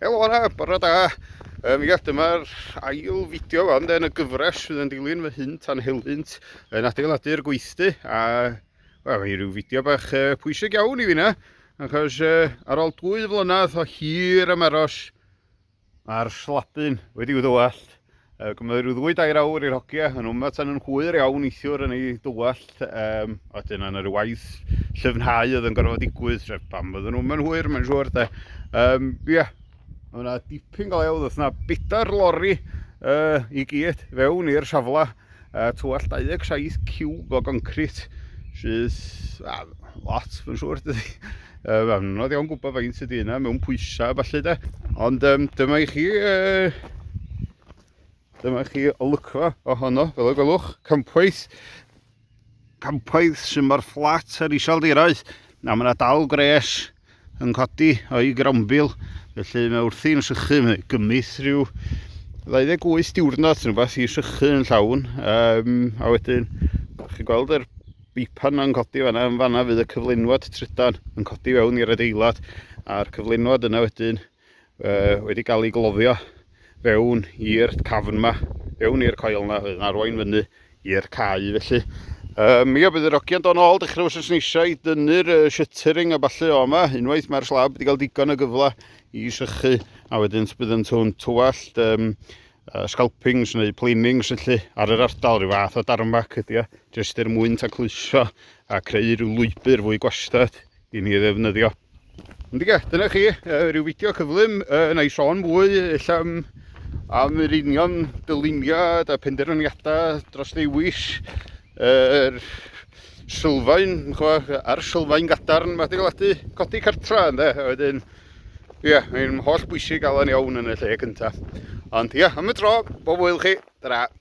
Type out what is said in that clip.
Helo yna, bore da. Um, ia, dyma'r ail fideo fan yn y gyfres sydd yn dilyn fy hynt a'n helynt yn adeiladu'r gweithdy. A, wel, mae rhyw fideo bach uh, pwysig iawn i fi na. Achos uh, ar ôl dwy flynedd o hir ymaros, Mae'r slabyn wedi'i ddywallt. Yy, cymryd rhyw ddwy dair awr i'r hogia yn wma tan yn hwyr iawn neithiwr yn ei dywallt. Um, a wedyn yna rhyw waith llyfnhau oedd yn gorfod digwydd, sef pam fydden nhw'n mynd hwyr, mae'n siŵr, de. Um, ia, yeah. Mae yna dipyn galewdd, oedd yna bedair lori uh, i gyd fewn i'r safle. a twall 27 ciwb o goncrit sydd a, lot fy siŵr dydy. Uh, fe anodd iawn gwybod faint ydy yna mewn pwysau falle de. Ond um, dyma i chi uh, dyma i chi olygfa ohono fel y gwelwch campwaith campwaith sy'n mor fflat ar iseldirau na mae yna dal gres yn codi o'i grambil, felly mae wrthi'n sychu, mae gymith rhyw 28 diwrnod yn rhywbeth i sychu yn llawn, um, a wedyn, chi'n gweld yr bipan yn codi fanna, yn fanna fydd y cyflenwad trydan yn codi fewn i'r adeilad, a'r cyflenwad yna wedyn uh, wedi cael ei gloddio fewn i'r cafn yma, fewn i'r coel yna, yn arwain fyny i'r cae felly. Um, ia, bydd yr ogia'n do'n ôl dechrau os oes eisiau i dynnu'r uh, shuttering a falle o yma, unwaith mae'r slab wedi cael digon o gyfle i sychu, a wedyn bydd yn tŵn tywallt, um, uh, scalpings neu planings felly ar yr ardal, rhyw fath o darmac ydy o, jyst er mwyn tacluso a creu rhyw lwybr fwy gwastad i ni ddefnyddio. Ond ie, dyna chi, uh, rhyw fideo cyflym, uh, na i sôn mwy, illa am, am yr union dyluniad a penderfyniadau dros ddewis yr uh, sylfaen, a'r sylfaen gadarn mae adeiladu codi cartra, ynddo, a wedyn, ie, yeah, mae'n holl bwysig gael yn iawn yn y lle cyntaf. Ond ie, yeah, am y tro, bob wyl chi, dyna.